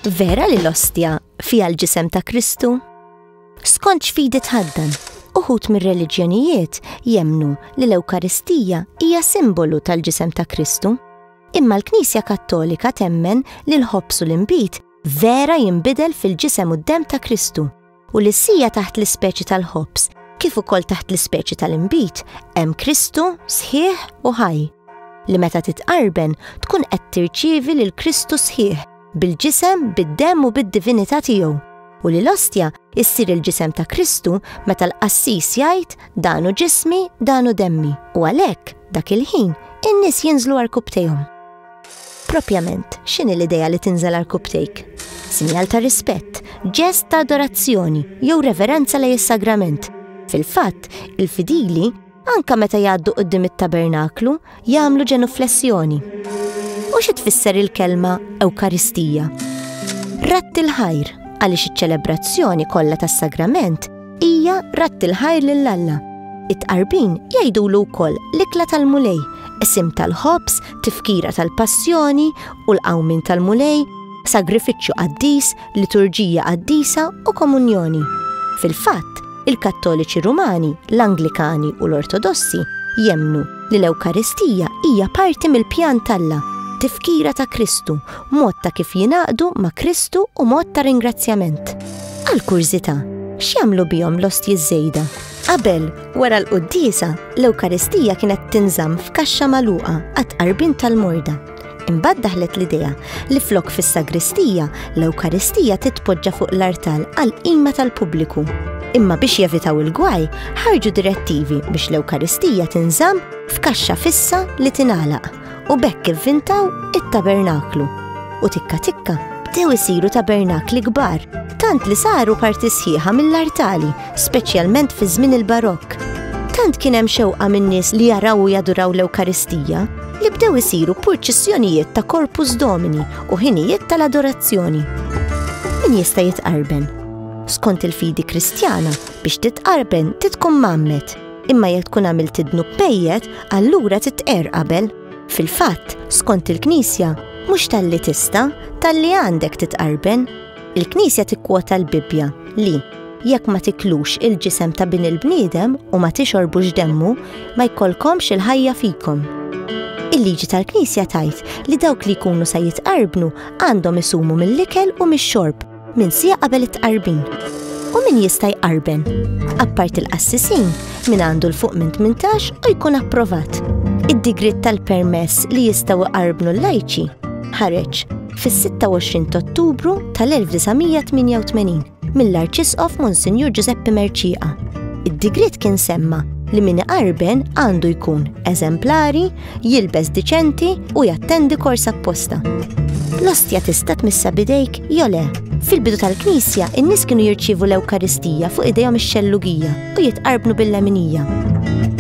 Vera li l-ostja fija l-ġisem ta' Kristu? Skont x'fidi tħaddan, uħut mir-reliġjonijiet jemnu li l-Ewkaristija hija simbolu tal-ġisem ta' Kristu. Imma l-Knisja Kattolika temmen li l-ħobsu l-imbit vera jinbidel fil-ġisem u d-dem ta' Kristu u li sija taħt l-ispeċi tal-ħobż kif ukoll taħt l-ispeċi tal-inbid hemm Kristu sħiħ u ħaj li meta titqarben tkun qed tirċievi lil Kristu sħiħ bil-ġisem, bid-demm u bid-divinità tiegħu u li l-ostja issir il-ġisem ta' Kristu meta l-qassis jgħid danu ġismi, danu demmi u għalhekk dak il-ħin in-nies jinżlu arkubtejhom. Propjament, x'inhi l-idea li tinżel għal kuptejk? Sinjal ta' rispett, ġest ta' adorazzjoni jew reverenza lejn is-sagrament. Fil-fatt, il-fidili, anke meta jgħaddu quddiem it-tabernaklu, jagħmlu ġenuflessjoni. U xi tfisser il-kelma Ewkaristija? Ratt il-ħajr, għaliex iċ-ċelebrazzjoni kollha tas-sagrament Hija ratt il-ħajr lil Alla. It-tqarbin jgħidulu wkoll l-ikla tal-Mulej, qsim tal-ħobż, tifkira tal-passjoni u l-qawmien tal-Mulej, sagrifiċċju qaddis, liturġija qaddisa u komunjoni. Fil-fatt, il-Kattoliċi Rumani, l-Anglikani u l-Ortodossi jemnu li l-Ewkaristija hija parti mill-pjan t'Alla, tifkira ta' Kristu mod ta' kif jingħaqdu ma' Kristu u mod ta' ringrazzjament. Għal kurżità, x'jagħmlu bihom l-ostji żejda? Qabel, wara l-quddisa, l-Ewkaristija kienet tinżamm f'kaxxa magħluqa għat-tqarbin tal-morda. Imbagħad daħlet l-idea li flok fis-sagristija, l-Ewkaristija titpoġġa fuq l-artal għal qima tal-pubbliku. Imma biex jevitaw il-gwaj, ħarġu direttivi biex l-Ewkaristija tinżamm f'kaxxa fissa li tingħalaq. u bekk ivvintaw it-tabernaklu. U tikka tikka bdew isiru tabernakli kbar, tant li saru parti sħiħa mill-artali, speċjalment fi żmien il-barokk. Tant kien hemm xewqa min-nies li jaraw u jaduraw l-Ewkaristija li bdew isiru purċissjonijiet ta' korpus domini u ħinijiet tal-adorazzjoni. Min jista' jitqarben? Skont il-fidi kristjana, biex titqarben titkom mammet Imma jekk tkun għamilt id-dnub pejjet, allura titqer qabel. Fil-fatt, skont il-Knisja, mhux talli tista, talli għandek titqarben. Il-Knisja tikkwota l-Bibbja li jekk ma tiklux il-ġisem ta' bin il-bniedem u ma tixorbux demmu, ma jkollkomx il-ħajja fikom. Il-liġi tal-Knisja tajt li dawk li jkunu sa jitqarbnu għandhom isumu mill-ikel u mix-xorb Min sija qabel it-tqarbin. U min jista' jqarben. Appart il-qassisin, min għandu l-fuq minn 18 u jkun approvat. Id-digrit tal-permess li jistgħu jqarbnu l-lajċi ħareġ fis-26 Ottubru tal-1988 mill-Arċisqof Monsinjur Giuseppe Merċiqa. Id-digrit kien semma li min iqarben għandu jkun eżemplari, jilbes diċenti u jattendi kors apposta. L-ostja tista' tmissa bidejk jew le. Fil-bidu tal-Knisja, in-nies kienu jirċievu l-Ewkaristija fuq idejhom ix-xellugija u jitqarbnu bil-leminija.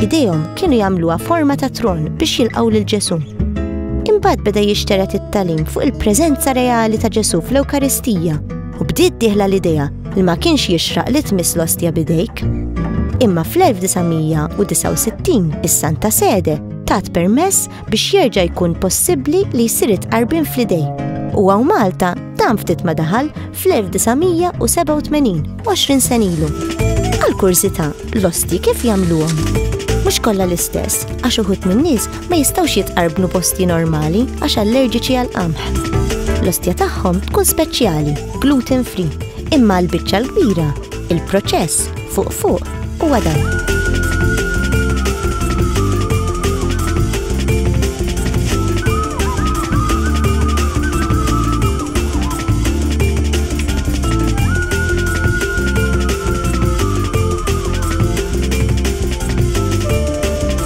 Idejhom kienu jagħmluha forma ta' tron biex jilqgħu lil Ġesù. Imbagħad beda jixteret it-talim fuq il-preżenza reali ta' Ġesù fl-Ewkaristija U bdiet diħla l-idea li ma kienx jixraq li tmiss l-ostja bidejk. Imma fl-1969 is-Santa Sede tat permess biex jerġa' jkun possibbli li jsir itqarbin fl-idej. U għaw Malta dan ftit ma daħal fl-1987, 20 senilu. Għal kurzita, l-osti kif jagħmluhom? Mhux kollha l-istess, għax uħut min-nies ma jistgħux jitqarbnu b'ostji normali għax allerġiċi għall-qamħ. L-ostja tagħhom tkun speċjali, gluten free, imma l-biċċa l-kbira, il-proċess fuq fuq huwa dan.